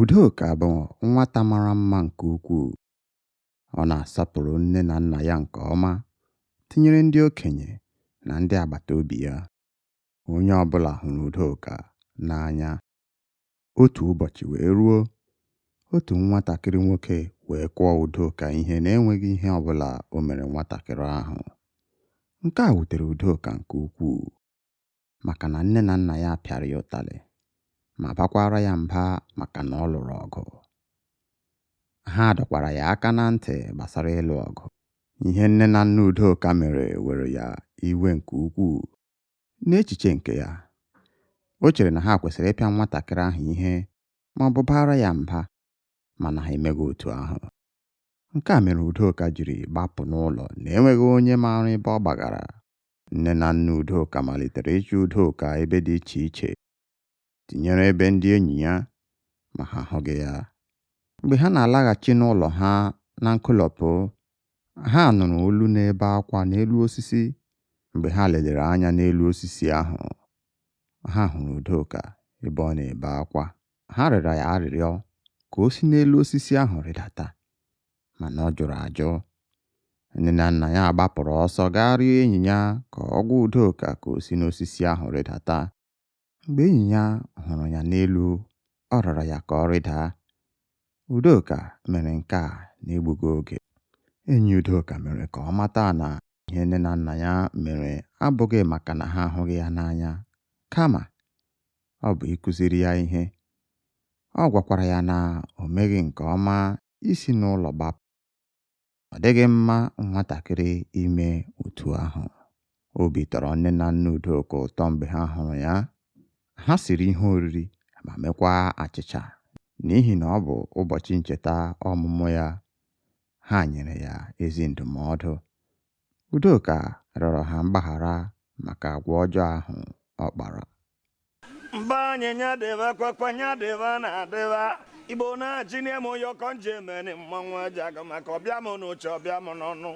Udoka bụ nwata mara mma nke ukwuu. Ọ na-asọpụrụ nne na nna ya nke ọma, tinyere ndị okenye na ndị agbata obi ya. onye ọ bụla hụrụ Udoka n'anya. Otu ụbọchị wee ruo, otu nwatakịrị nwoke wee kụọ Udoka ihe na-enweghị ihe ọ bụla o mere nwatakịrị ahụ. Nke a wutere Udoka nke ukwuu maka na nne na nna ya pịara ya ụtalị ma bakwaara ya mba maka na ọ lụrụ ọgụ. Ha dọkwara ya aka na ntị gbasara ịlụ ọgụ. Ihe nne na nna Udoka mere were ya iwe nke ukwuu N'echiche nke ya, o chere na ha kwesịrị ịpịa nwatakịrị ahụ ihe ma ọ bụ baara ya mba, mana ha emeghị otu ahụ. Nke a mere Udoka jiri gbapụ n'ụlọ na enweghị onye maara ebe ọ gbagara. Nne na nna Udoka malitere ịchọ Udoka ebe dị iche iche. tinyere ebe ndị enyi ya ma ha ahụghị ya. Mgbe ha na-alaghachi n'ụlọ ha na nkolopụ, ha nụrụ olu na-ebe akwa n'elu osisi. Mgbe ha lelere anya n'elu osisi ahụ, ha hụrụ Udoka ebe ọ na-ebe akwa. Ha rịọrọ ya arịrịọ ka o si n'elu osisi ahụ rịdata, mana ọ jụrụ ajụ. Nne na nna ya gbapụrụ ọsọ gaa rịọ enyi ya ka ọ gwa Udoka ka o si n'osisi ahụ rịdata. Mgbe enyi ya hụrụ ya n'elu, ọ rịọrọ ya ka ọ rịda. Udoka mere nke a n'egbughị oge. Enyi Udoka mere ka ọ mata na ihe nne na nna ya mere abụghị maka na ha ahụghị ya n'anya, kama ọ bụ ịkụziri ya ihe. Ọ gwakwara ya na o meghị nke ọma isi n'ụlọ gbapụ. ọ dịghị mma nwatakịrị ime otu ahụ. Obi tọrọ nne na nna Udoka ụtọ mgbe ha hụrụ ya. Ha siri ihe oriri ma mekwaa achịcha n'ihi na ọ bụ ụbọchị ncheta ọmụmụ ya. Ha nyere ya ezi ndụmọdụ. Udoka rịọrọ ha mgbaghara maka agwa ọjọọ ahụ ọ kpara. mba anyị nya dịba kwakwa nya dịba na-adịba igbo na-achị n'ime m onye ọkọ nje emeni mmanwụ aja aga maka ọ bịa m n'uche ọ bịa m n'ọnụ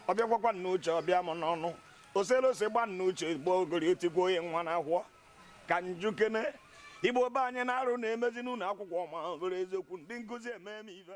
ọ bịa kwakwa n'uche ọ bịa m n'ọnụ osele ose gba n'uche gbuo ogori otigwo onye nwa na ahụọ ka m jụkene igbo be anyị na arụ na-emezi n'ụnọ akwụkwọ ma bụrụ eziokwu ndị nkụzi eme m ife